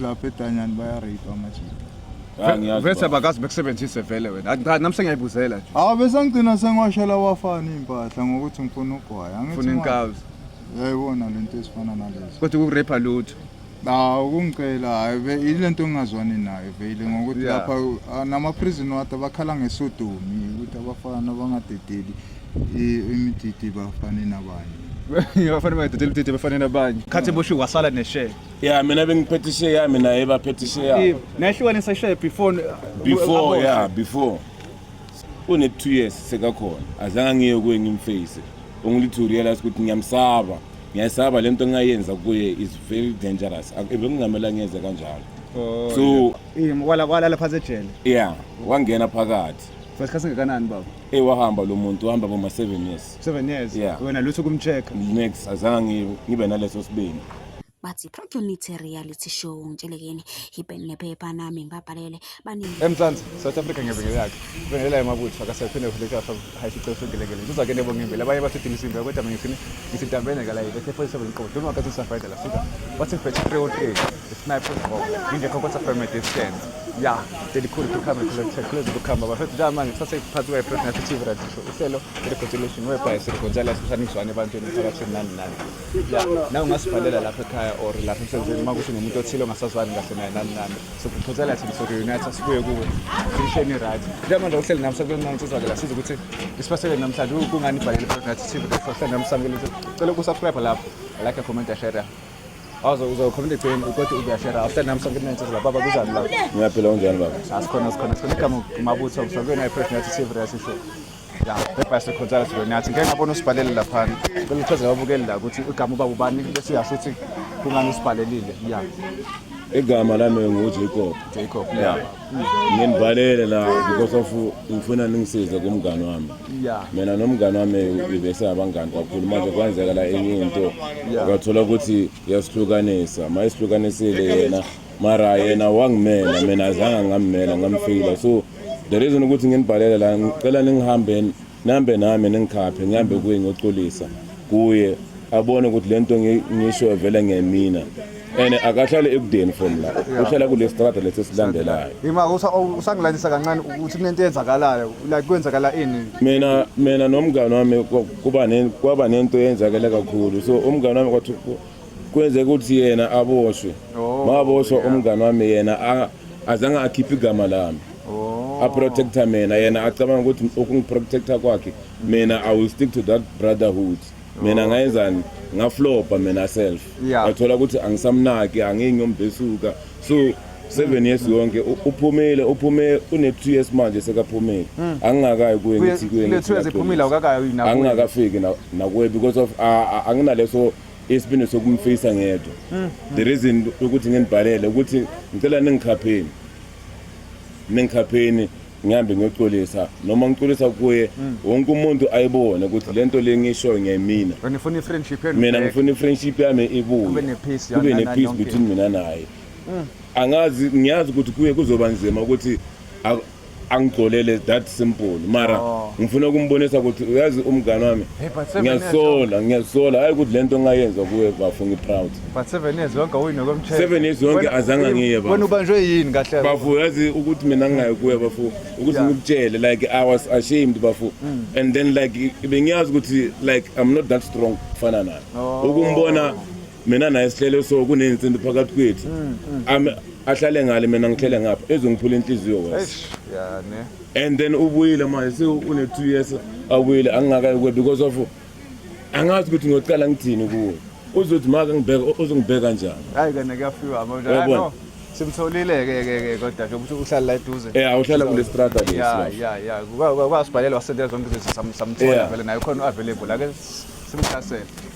lapha edanyani bayarape amajita Ah, ngiyazi Vese baba. bakazi bekusebenzise vele wena. Athi cha nami sengiyayibuzela nje. awu besangigcina sengiwashela wafana iy'mpahla ngokuthi ngifuna ugwaya Angithi Funa manje, inkawu. yayibona le nto ezifana nalezo Kodwa ukurape lutho. awu kungicela hhayi ve- yile nto engingazwani nayo vele ngokuthi Yeah. lapha ah, nama-prison ward abakhala ngesodomi ukuthi abafana bangadedeli i- imididi bafane nabanye Ngiyafana bayidedela udidi befane nabanye. Khathi boshiwe wasala neshare. ya mina bengiphethe ishe yami naye baphethe ishe yabo nahlukanisa ishe before before ya before une 2 years sekakhona azange ngiye kuye ngimface only to realize ukuthi ngiyamsaba ngiyayisaba le nto engayenza kuye is very dangerous bekungamela ngiyeze kanjalo oh, so walala phantsi ejele ya wangena phakathi for isikhathi singakanani baba eyi wahamba lo muntu wahamba boma seven years seven years wena lutho kumcheck next azange ngibe naleso sibini bathi Protonite reality show ngitshele kini ipen nephepha nami ngibabhalele baningi emzansi south africa ngebengele yakhe bengela emabutho akasaphinde kuhleka hayifice usengelekele ngizoza ke nebo ngimbele abanye bathi dini simbe kodwa mina ngifini ngisitambene ngala yile the first seven kodwa uma kathi safayda la sika wathi fethu 303 sniper ngoba ngingekho kodwa from a distance ya ndelikhulu kukhamba kulokuthe kulezi kukhamba bafethu nje manje sase phansi kwe president TV radio show uhlelo recognition webhayi sirikho njalo sishaniswane ebantwini phakathi nani nani ya nawe ungasibhalela lapha ekhaya or lapha emsebenzini uma kuthi unomuntu othile ongasazwani kahle naye nani nani sokuphothela thina soku-unite sibuye kuwe sisheni right njengamanje uhleli nami sekuyonansizwa-ke la siza ukuthi isiphathele namhlanje kungani ibhalele phakathi tv kuhleli nami samukele cela ukusubscribe lapho like a comment ashare awuze uzokhomela egceni kodwa uyashera after nami sonke kunentsizwa lapha baba kuzani lapha ngiyaphila unjani baba asikhona asikhona sikhona igama umabutho mhlawumbe naye fresh nathi tv rasi show ya bebhayise khonzala sidoni yathi ngeke ngabona usibhalele laphana cela uchazela ababukeli la ukuthi igama ubaba ubani bese yasho ukuthi kungani usibhalelile ya igama lami ngujacob jacob ya nginibhalele la because of ngifuna ningisize kumngani wami ya mina nomngani wami bese abangani kakhulu manje kwenzeka la enye into ngathola ukuthi yasihlukanisa mayisihlukanisile yena mara yena wangimela mina azange ngammela ngamfila so the reason ukuthi nginibhalele la ngicela ningihambe nambe nami ningikhaphe ngihambe kuye ngiyocolisa kuye abone ukuthi le nto ngisho vele ngemina and akahlale ekudeni from la uhlala kule strata lesi silandelayo yima usangilandisa kancane ukuthi kunento eyenzakalayo like kwenzakala ini mina mina nomngane wami kuba kwaba nento eyenzakele kakhulu so umngane wami kwathi kwenzeka ukuthi yena aboshwe oh, maboshwa umngane wami yena azange akhiphe igama lami oh. aprotecta mina yena acabanga ukuthi ukungiprotecta kwakhe mina i will stick to that brotherhood mina oh. ngayenzani ngaflopa mina self ngathola ukuthi angisamnaki angingi umbesuka so seven years yonke uphumile uphume une-two years manje sekaphumile hmm. angingakayi kuye ngithi kuye angingakafiki nakuye because of anginaleso isibindi sokumfisa ngedwa mm. the reason ukuthi nginibhalele ukuthi ngicela ningikhapheni ningikhapheni ngihambe ngiyocolisa noma ngicolisa kuye mm. wonke umuntu ayibone ukuthi le nto le ngishoyo ngiyayimina mina ngifuna i-friendship yami ibuye kube ne-peace between mina naye mm. angazi ngiyazi ukuthi kuye kuzoba nzima ukuthi angigcolele that simple mara oh. ngifuna ukumbonisa ukuthi uyazi umngane wami ngiyasola ngiyasola hayi ukuthi lento ngayenza kuwe bafo ngiproud but 7 years yonke awuyini kwemthetho 7 years yonke azange ngiye bafo wena ubanjwe yini kahle bafo yazi ukuthi mina ngingaye kuwe bafo ukuthi ngikutshele like i was ashamed bafo mm. and then like bengiyazi ukuthi like i'm not that strong kufana naye oh. ukumbona mina naye sihlele so kuney'nsimbi phakathi kwethu mm, mm. Ame- ahlale ngale mina ngihlele ngapha ezongiphula inhliziyo wes Eish, ya ne. and then ubuyile manje se une-two years abuyile angingakayi kuwe because of angazi ukuthi ngiyocala ngithini kuwe uzothi maka ngibheka u- uzongibheka njani Hayi kena kuyafiwa manje. Yabona. Hayi no. Simtholile ke ke ke kodwa nje ukuthi uhlala la eduze. um awuhlala kule strata lesi Ya lapha. ya ya. Kwa- kwa- Kwasibhalela wasendela zonke izinto sam- samthola Yeah. vele naye khona available ake simhlasele.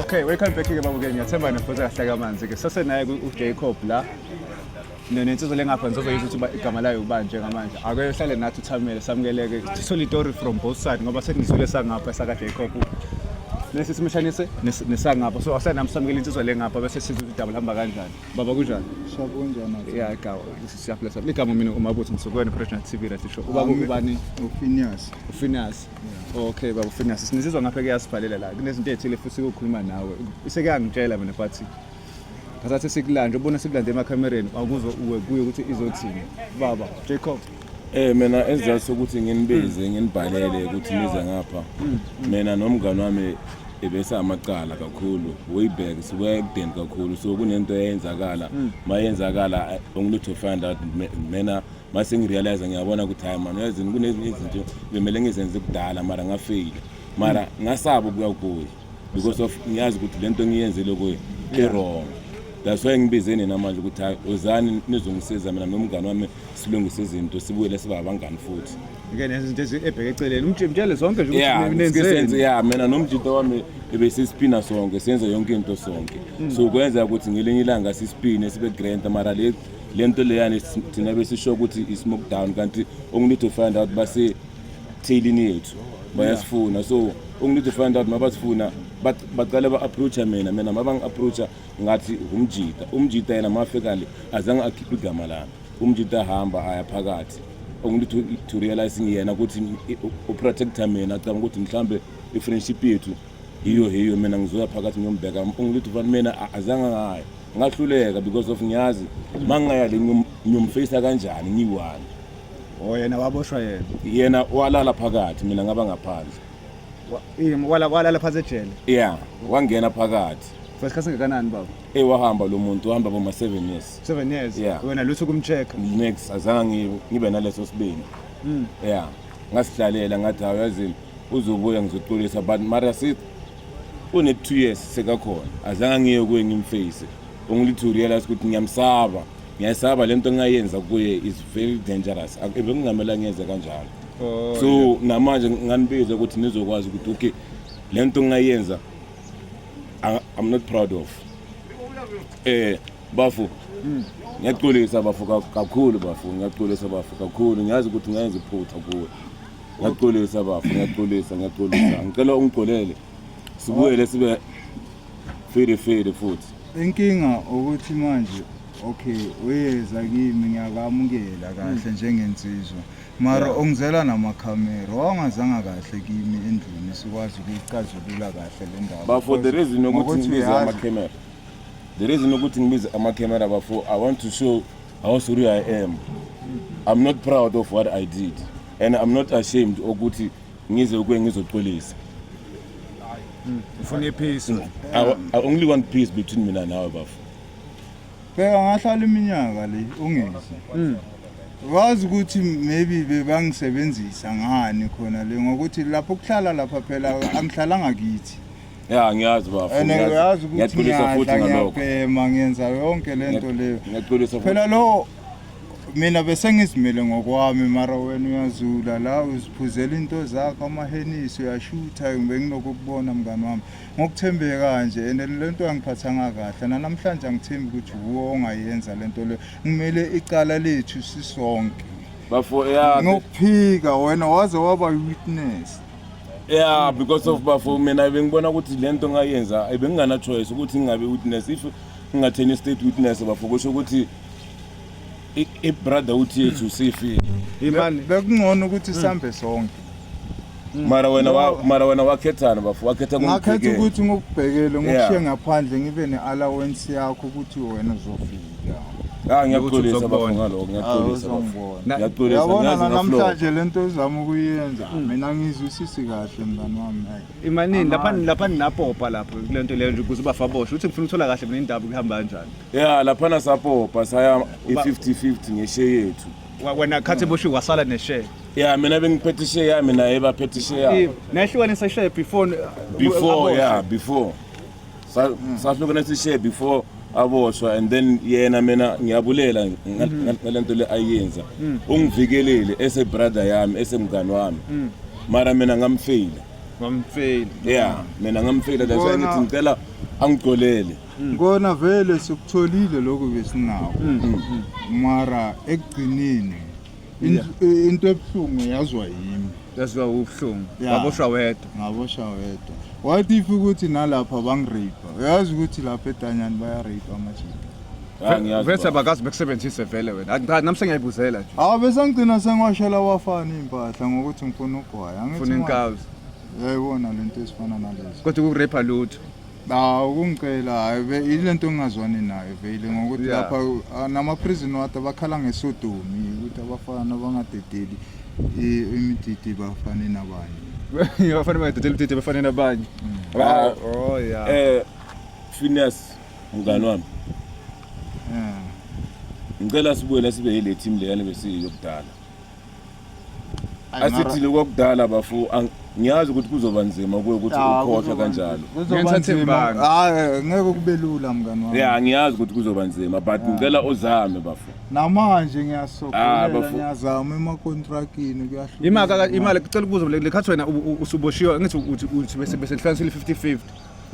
Okay, welcome back ke babuke ngiyathemba nifutha kahle kamanzi ke sase naye uJacob la nensizwa lengapha ngizozoyizwa ukuthi igama layo ubani njengamanje ake uhlale nathi uthamele samukeleke sithole itori from both side ngoba senizwile sangapha sakaJacob nesi simshanise nesangapha so ahlale nami samukele insizwa lengapha bese sizwa ukuthi idaba lihamba kanjani baba kunjani shakunjani ya gawa siyaphila sabe igama mina umabutho ngisukwena President TV la sisho ubaba ubani uFinias uFinias Okay baba Finance sinisizwa ngapha kuyasibhalela la kunezinto ezithile futhi ukukhuluma nawe sekuyangitshela mina but ngasathi sikulande ubona sikulande emakhamereni akuzo uwe kuye ukuthi izothini baba Jacob Eh mina esizathu sokuthi nginibize nginibhalele ukuthi nize ngapha hmm. mina nomngani wami ebese amacala kakhulu way back sibuya ekudeni kakhulu so kunento eyenzakala mayenzakala hmm. ongilutho find out mina uma sengirealize ngiyabona ukuthi hayi mani uyazini kunezinye izinto bemele ngizenze kudala mara ngafeyile mara ngasaba ukuya kuye because of ngiyazi ukuthi le nto ngiyenzile kuye i-wrong that's why ngibize nina manje ukuthi hayi ozani nizongisiza mina nomngane wami silungise izinto sibuyele siba abangani futhi ke nezinto ebheke eceleni umtshele sonke nje ukuthi nenzeni ya mina nomjito wami ebesisipina sonke senze yonke into sonke mm. so kwenzeka ukuthi ngelinye ilanga sisipine sibe grand mara le le nto leyani thina besisho ukuthi i-smoke down kanti only to find out basethailini yethu bayasifuna so only to find out mabasifuna baqale ba-approacha mina mina mabangi-approacha ngathi umjita umjita yena mafika le azange akhiphe igama lami umjita ahamba aya phakathi only to, to realize ngiyena ukuthi uprotector mina acabanga ukuthi mhlawumbe i-friendship yethu hiyo hiyo mina ngizoya phakathi ngiyombheka ungilithi ufana mina azange ngayo ngahluleka because of ngiyazi mangingaya le ngiyomfeyisa kanjani ngiyi-one o oh, yena waboshwa yena yena walala phakathi mina ngaba ngaphandle walala phansi ejele ya wangena phakathi for isikhathi singakanani baba eyi wahamba lo muntu wahamba boma seven years seven years wena lutho kumcheck next azange ngibe naleso sibini hmm. ya ngasihlalela ngathi hawu yazini uzobuya ngizoxolisa but mara sithi une-two years sekakhona azange ngiye kuye ngimface only to realize ukuthi ngiyamsaba ngiyayisaba le nto engayenza kuye is very dangerous bekungamela ngiyenze kanjalo oh, so namanje nganibiza ukuthi nizokwazi ukuthi okay le nto engayenza i'm not proud of um Bafu. Mm. Ngiyaxolisa bafu kakhulu bafu ngiyaxolisa bafu kakhulu ngiyazi ukuthi ngenza iphutha kuwe. Ngiyaxolisa bafu ngiyaxolisa ngiyaxolisa ngicela ungixolele. Sibuyele sibe fede fede futhi. Inkinga ukuthi manje okay uyeza kimi ngiyakamukela kahle mm. njengensizwa. mara yeah. ongizela namakhamera wawangazanga kahle kimi endlini sikwazi ukuyicazulula kahle le ndaba bafo the reason yokuthi ngibiza amakhamera The reason ukuthi ngibize ama camera bafo I want to show how sorry I am. I'm not proud of what I did and I'm not ashamed ukuthi ngize ukwe ngizoxolisa. Ufuna ipeace. I, wa- I only want peace between mina nawe bafo. bheka ngahlala iminyaka le ungezi wazi ukuthi maybe bebangisebenzisa ngani khona le ngokuthi lapho kuhlala lapha phela angihlalanga kithi Ya ngiyazi bafo. And ngiyazi. uyazi ukuthi Ngiyaxolisa futhi ngiyadla ngalokho. ngiyabhema ngenza yonke le nto leyo. Ngiyaxolisa futhi. Phela lo mina besengizimele ngokwami mara wena uyazula la uziphuzela into zakho amahenisi uyashutha benginokho kubona mngani wami ngokuthembeke kanje and le nto angiphathanga kahle nanamhlanje angithembi ukuthi wuwo ongayenza le nto leyo ngimele icala lethu sisonke Bafo ya ngokuphika wena waze waba witness yeah because of bafo mina bengibona ukuthi le nto ngayenza bengingana-choice ukuthi ngingabe witness if ngingatheni i-state witness bafo kusho ukuthi i-brother uthi yethu sifile imani bekungcono ukuthi hmm. sihambe sonke hmm. mara wena wa, mara wena wakhethana bafo wakhetha ngakhetha ukuthi ngikubhekele ngikushiye ngaphandle ngibe ne-allowance yakho ukuthi wena uzofika Ah ngiyaxolisa Ukuthi bafo uzokubona. ngaloko ngiyaxolisa bafo. Awuzongibona. Ngiyaxolisa Yabona ngiyazi ngaflow. namhlanje le nto ezama ukuyenza mina ngizwisisi kahle mngani wami like, Imanini lapha Amandla. lapha ninapopa lapho kule nto leyo nje ukuze ubafa boshwe. Uthi ngifuna ukuthola kahle mina indaba kuhamba kanjani. Yeah lapha nasapopa saya Uba- i-50-50 ngeshe yethu. Wa- Wena khathi boshiwe wasala neshare. Yeah mina bengiphethe ishe yami naye baphethe ishe yabo. Nayihlukanisa ishare before Before yeah before. Sa- sahlukene sishe before aboshwa and then yena mina ngiyabulela nga- nga- ngale nto le ayenza ungivikelile esebrother yami esemngani wami mara mina ngamfeyila Ngamfeli. ya mina ngamfeyila that's why Bona- ngithi ngicela angigcolele Ngona vele sikutholile lokho besinako. Mara ekugcineni In- i- into ebuhlungu yazwa yimi Yazwa ubuhlungu. Yeah. Waboshwa wedwa. ngabosha wedwa what if ukuthi nalapha bangirape uyazi ukuthi lapha etanyani bayarape amajita Ya, ngiyazi Vese baba. abakazi bekusebenzise vele wena. Ayi, Cha, nami sengiyayibuzela nje. awu besangigcina sengiwashela wafana iy'mpahla ngokuthi ngifuna ugwaya Angithi Funa manje- inkazi. yayibona le nto ezifana nalezo Kodwa ukurape lutho. Ah, ukungicela hayi be ilento engingazwani nayo vele ngokuthi Yeah. lapha ah, nama-prison water bakhala ngesodumi ukuthi abafana bangadedeli i- imididi bafane nabanye abafana badedela udidi abafana nabanye Ah, oh yeah eh Phineas mngani wami Eh. ngicela sibuye la sibe yile team leyana besiyokudala asithini kwakudala bafo ngiyazi ukuthi kuzoba nzima kuwe ukuthi ah, ukhohlwe kanjalo ah, eh, ngeke kube lula mngani wami ya ngiyazi ukuthi kuzoba nzima but ngicela uzame bafo namanje ngiyasokolela ah, ngiyazama emakontrakini kuyahlula imaka imali kucela ukubuza le khathi wena usuboshiwe ngithi uthi uthi bese bese hlanganisile 50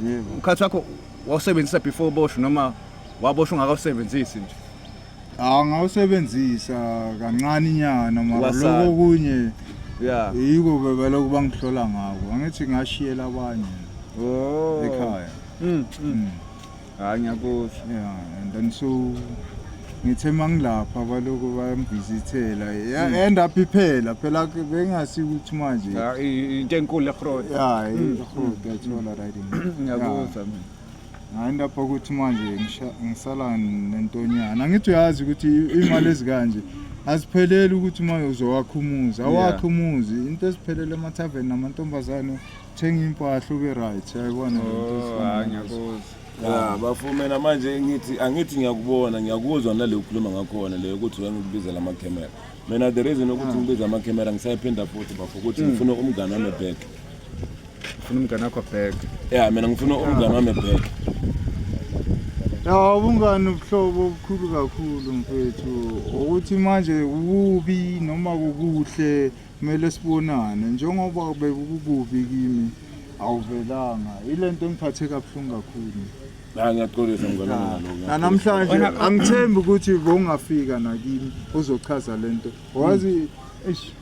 50 ukhathi wakho wawusebenzisa before boshwe noma waboshwa ungakawusebenzisi nje Ah ngawusebenzisa kancane inyana mara Wasala. lokho kunye ya yiko bebelokhu bangihlola ngako angithi ngashiyela abanye oh ekhaya Mm, mm. Mm. hayi ngiyakuzwa yeah and then so ngithe mangilapha balokhu bangivizithela Mm. end up iphela phela ke bengasi ukuthi manje Ah, i- into enkulu egrod yeah Mm. i- that's all right in- ngiyakuzwa mina hayi lapha ukuthi manje ngisala nentonyana angithi uyazi ukuthi imali ezikanje azipheleli ukuthi uma uzowakha umuzi awakhe umuzi into eziphelele emathaveni namantombazane uthenga impahla ube right yayibona oh, ya bafumena manje ngithi angithi ngiyakubona ngiyakuzwa naleyo ukhuluma ngakhona leyo ukuthi wena ukubizela amakhemera mina the reason ukuthi ah. ngibiza amakhamera ngisayiphinda futhi bafo ukuthi hmm. ngifuna umngane wami back ufuna umngane wakho back ya mina ngifuna ah. umngane wami back ya ubungane ubuhlobo obukhulu kakhulu mfethu ukuthi manje kubi noma kukuhle kumele sibonane njengoba bekukubi kimi awuvelanga ile nto engiphathe kabuhlungu kakhulu Hayi ngiyaxolisa mngane wami ngalokho. Na- namhlanje Wena- angithembi ukuthi bowungafika nakimi uzochaza lento wazi eish,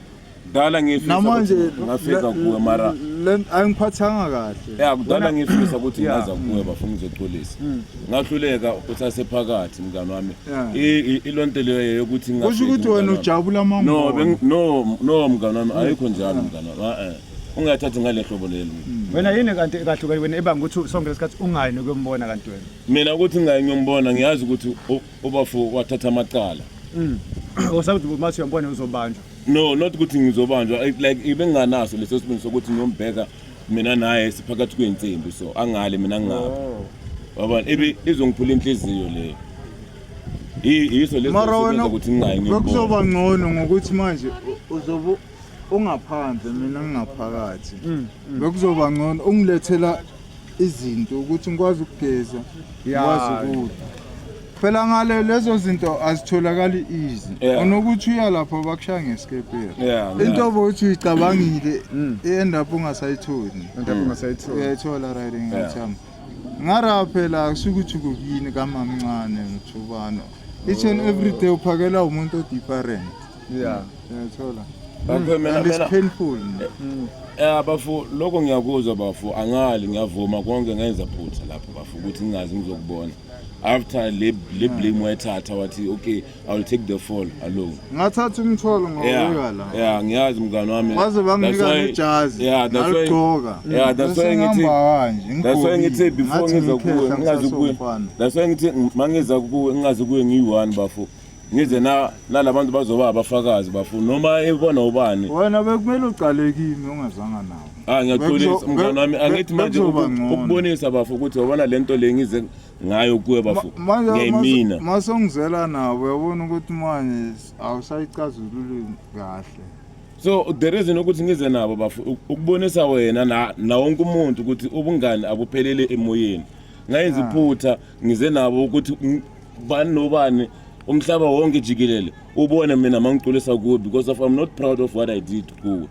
Kudala ngifisa namanje ukuthi ngafika le- kuwe mara le- ayingiphathanga kahle ya kudala ngifisa ukuthi Yeah. ngaza kuwe bafuna ngizoxolisa. Mm. Ngahluleka uthase phakathi mngane wami. Yeah. I- i- Ilonto leyo yokuthi kusho ngafiki, ukuthi mngane wena wami. ujabula No, amangoma beng- no, no mngane wami ayikho njalo mngane wami. Ah, eh. ungathathi ngale hlobo leli wena yini kanti ekahlukene wena ebanga ukuthi sonke lesikhathi ungayi nokuyombona kanti wena mina ukuthi ngayi ngiyombona ngiyazi ukuthi ubafo wathatha amacala mm. usakuthi uma siyombona uzobanjwa no not ukuthi ngizobanjwa like ibenganaso leso sibindi sokuthi ngiyombheka mina naye siphakathi kwey'nsimbi so angale mina ngingaphi oh. wabona ibe izongiphula inhliziyo leyo yiso lesokuthi ngingayi ngiyombona kuzoba ngcono ngokuthi manje uzobe ungaphandle mina ngingaphakathi mm, mm. bekuzoba ngcono ungilethela izinto ukuthi ngikwazi ukugeza ngikwazi ukudla phela ngale lezo zinto azitholakali easy onokuthi uya lapho bakushaya ngesikeperi into obokuthi uyicabangile mm. i-end up ungasayitholi uyayithola right ngathami ngara phela kusuke ukuthi kukini kamamncane ngithubano each and every day uphakela umuntu odifferent yeah ngiyathola Bafo, mina- and it's mina- painful Eh bafo lokho ngiyakuzwa bafo angali ngiyavuma konke ngenza phutha lapho bafo ukuthi ngingazi ngizokubona after le le blame wayithatha wathi okay i will take the fall alone ngathatha umthwalo ngawubeka yeah la yeah ngiyazi mngani wami baze That's banginika why- nejazi yeah that's why naligqoka yeah that's why ngithi that's why ngithi before ngiza kuwe ngingazi kuwe that's why ngithi mangiza kuwe ngingazi kuwe ngiyi-one bafo ngize na nalabantu bazoba abafakazi bafu noma ebona ubani wena bekumele uqale kimi ungazanga nawo ah ngiyaxolisa Bekuzo- mngane be- wami be- angithi manje bekuzoba uku- ngcono. ukubonisa bafu ukuthi wabona lento le ngize ngayo kuwe bafu manje ngiyimina masongizela nabo uyabona ukuthi manje awusayicazululi kahle so the reason ukuthi ngize nabo bafu uk- ukubonisa wena na na wonke umuntu ukuthi ubungani abuphelele emoyeni ngayenza iphutha ngize nabo ukuthi ng- bani nobani umhlaba wonke jikelele ubone mina mangiculisa kuwe because of i'm not proud of what i did kuwe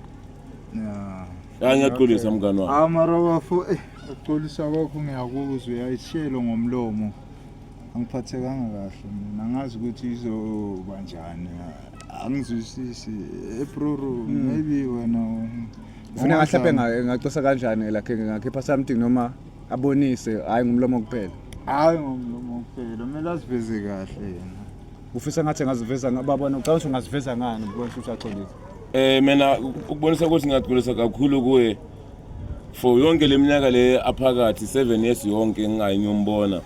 Yeah. ya ngiyaxolisa mngani wami Ah mara bafo eh uxolisa kwakho ngiyakuzwa uyayishelo ngomlomo. Angiphathekanga kahle mina ngazi ukuthi izoba njani. Angizwisisi. Eh bro maybe wena Ufuna ngahlape ngacosa kanjani lakhe ngakhipha something noma abonise hayi ngumlomo kuphela hayi ngomlomo kuphela kumele aziveze kahle yena ufisa ngathi engaziveza nga- babona ucabanga ukuthi ungaziveza ngani ubona ukuthi uyaxolisa Eh mina ukubonisa ukuthi ngiyagculisa kakhulu kuye for yonke leminyaka le aphakathi 7 years yonke ngingayinyombona.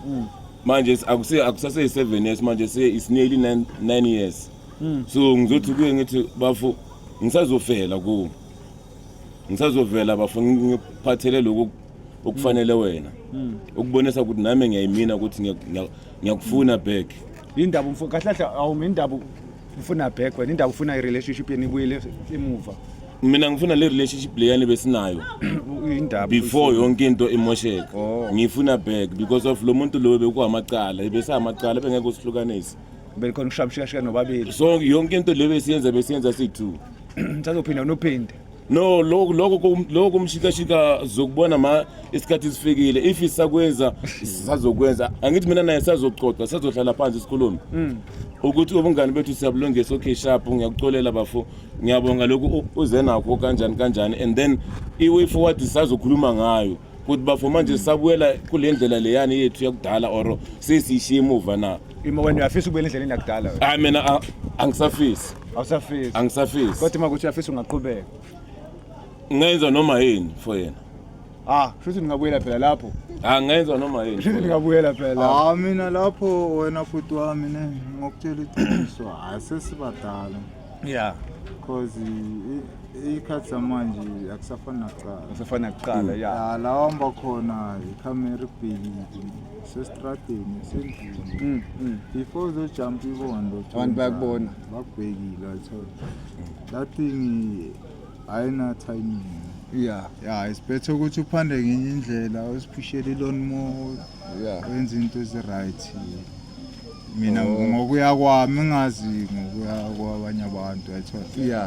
Manje si- akusi akusase 7 years manje se is nearly 9 9 years. So ngizothi kuye ngithi bafu ngisazofela ku. ngisazovela bafo ngiphathele lokhu okufanele mm. wena mm. ukubonisa ukuthi nami ngiyayimina ukuthi ngiyakufuna back indaba umfo kahle kahle awumi indaba ufuna back wena indaba ufuna i-relationship yeni ibuyele emuva mina ngifuna le relationship leyani besinayo indaba before yonke into imosheka oh. ngifuna back because of lo muntu loyo bekuhamacala ebesayamacala bengeke usihlukanise belikhona ukushamshikashika nobabili so yonke into le besiyenza besiyenza siyi-two sazophinda nophinde no lokho lokho lokho umshikashika zokubona ma isikhathi sifikile if isakwenza sazokwenza angithi mina naye sazoxoxa sazohlala phansi sikhulume mm. ukuthi ubungani bethu siyabulungisa okay sharp ngiyakucolela bafo ngiyabonga lokhu uze nakho kanjani kanjani and then i-way forward sazokhuluma ngayo ukuthi bafo manje sabuyela kule ndlela leyani yethu yakudala or sesiyishiye emuva na Ima wena uyafisa ukubuyela endleleni yakudala wena. hayi mina a- angisafisi Awusafisi. angisafisi Kodwa uma kuthi uyafisa ungaqhubeka. ngenza noma yini for yena Ah, futhi ningabuyela phela lapho. Ah, ngenza noma yini Futhi ningabuyela phela lapho. hawu mina lapho wena bhuti wami ne ngokutshela iqiniso hayi sesibadala yeah because iy'khathi zamanje akusafani nakuqala akusafani nakuqala ya ya la wamba khona ikhamera ibhekile sesitradeni sendlini mm, mm. before uzojumpa ibondo abantu bayakubona bakubhekile ayithole that thing ayina-timing ya ya it's better ukuthi uphande ngenye indlela uziphushele iloni more wenza into ezi-right mina oh. ngokuya kwami ngazi ngokuya kwabanye abantu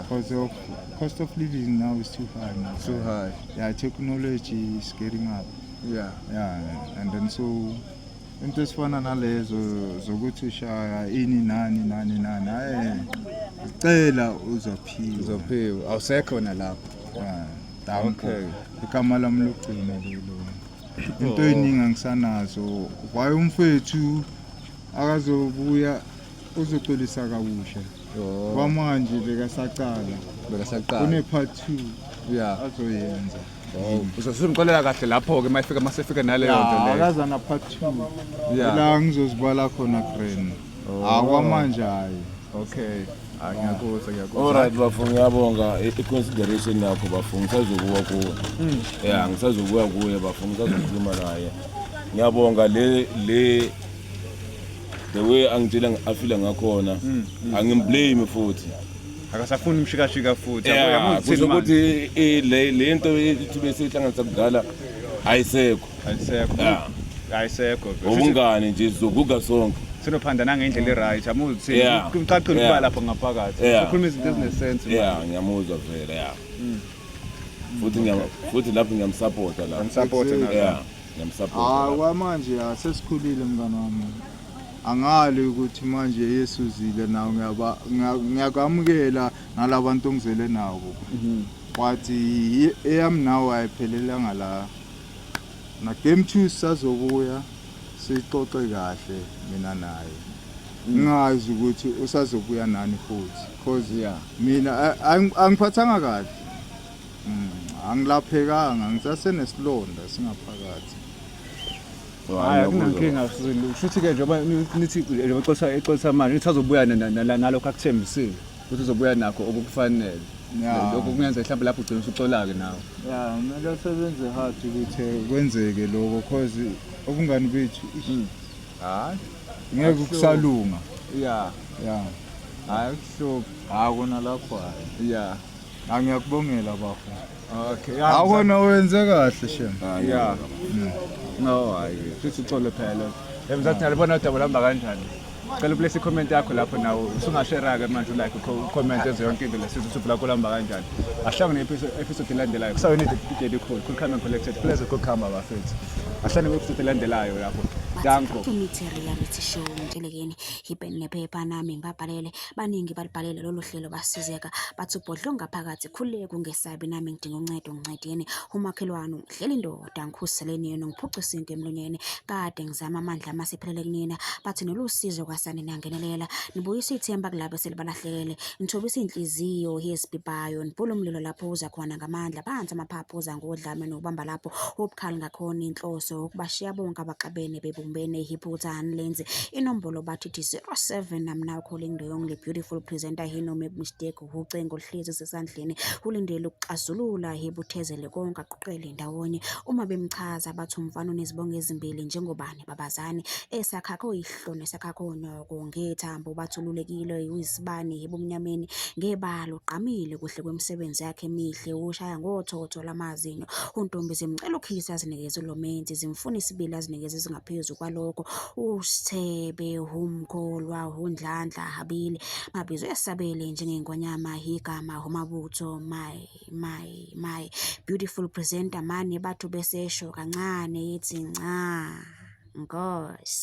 because of cost of living now is too high now. too high yeah technology is getting up yeah yeah and then so into esifana nalezo zokuthi ushaya ini nani nani nani hayi cela uzophiwa uzophiwa awusekho nalapho yeah okay igama lami logcina lelo into eningi angisanazo why umfethu akazobuya uzocolisa kabusha Oh, kwamanje bekasaqala bekasaqala une-part two ya azoyenza Oh, uzosimxolela kahle lapho-ke uma efika uma sefika naleyo nto leyo akaza na-part two ya la ngizozibala khona grand Ah kwamanje hayi. Okay. Ah ngiyakuzwa ngiyakuzwa. Alright bafo ngiyabonga i i- consideration yakho bafo ngisazokuwa kuwe. Yeah ngisazokuwa kuye bafo ngisazokhuluma naye. Ngiyabonga le le the way angitshela ngi- afila ngakhona angimblame futhi. Akasafuni umshikashika futhi. Yeah, Yabo, kusho yabo, ukuthi i- le le nto ithibe sihlanganisa kudala ayisekho ayisekho Yeah. ayisekho Ubungane nje sizoguga sonke. sinophanda nangendlela eright amuzi Yeah. ukuthi kucacile ukuba Yeah. lapho ngaphakathi Yeah. ukhuluma izinto ezinesense Yeah, ngiyamuzwa vele yeah. Futhi ngiyam futhi lapho ngiyamsupporta la. support Yeah. Ah, Ngiyamsupporta. la. kwamanje ya sesikhulile mngane wami angali ukuthi manje yesuzile nawo ngiyaba- ngiya- ngiyakwamukela nalabantu ongizele nabo but i- eyami nawo ayiphelelanga la Nagame two sisazobuya sixoxe kahle mina naye. Ngingazi ukuthi usazobuya nani futhi because Yeah. mina a- ang- angiphathanga kahle. Mm, Angilaphekanga ngisasenesilonda singaphakathi. Hayi akunankinga sizolunga. Shuthi ke njengoba ni- nithi njengoba exolisa exolisa manje nithi azobuya na- na- na- nalokho akuthembisile. ukuthi uzobuya nakho okukufanele Yeah. lokho kungenzeka mhlawumbe lapho ugcina usuxolake nawe ya kumele asebenze hard ukuthi kwenzeke lokho cause ubungani bethu ish, hayi ngeke Kubuhlungu. kusalunga ya ya hayi kuhluphi hayi kona lapho hayi ya angiyakubongela bafo Okay. ya- Akona wenze kahle shem. Yeah. No, hayi. Futhi uxolo phela. Emzathi nalibona udaba lamba kanjani? Cela uplace i-comment yakho lapho nawe usungashera-ke manje ulike ucomment ezo yonke into lesithi usuku lakho lamba kanjani ahlangane ne-episode elandelayo kusawena idedi khulu cool come and collected pleasure kokuhamba bafethu ahlangane ne-episode elandelayo lapho danko imithi reality show ntshelekeni yipen nephepha nami ngibabhalele baningi balibhalele lolu hlelo basizeka bathi ubhodlo ngaphakathi Khuleka ungesabi nami ngidinga uncedo ngincedeni. Umakhelwane ungihleli indoda ngikhuseleni yena ngiphuca isinke emlonyeni. Kade ngizama amandla amase phelele kunina bathi nolusizo kwasani nangenelela. Nibuyisa ithemba kulabo selibalahlekele. Nithobisa inhliziyo yezibhibayo nibhula umlilo lapho uza khona ngamandla phansi amaphaphu uza ngodlame nokubamba lapho ubukhali ngakhona inhloso ukubashiya bonke abaxabene bebumbene iphutha anilenzi inombolo bathi 07 namna ukhole ingdoyong le beautiful presenter hino mistake ucingo oluhlezi sesandleni ulindele ukuxazulula yebuthezele konke aquqele ndawonye uma bemchaza bathi umfana unezibongo ezimbili njengobani babazane esakhakho ihloni esakhakho onyoko ngethambo bathululekile uyisibani ebumnyameni ngebalo ugqamile kuhle kwemisebenzi yakhe emihle ushaya ngothotho lamazinyo untombi zimcela ukhisa azinikeze lo menzi zimfuna isibili azinikeze ezingaphezu kwalokho usithebe umkholwa undlandla abili mabizwe esabele njengengonyama yigama umabutho my my my beautiful presenter mani bathu besesho kancane yithi nca ngosi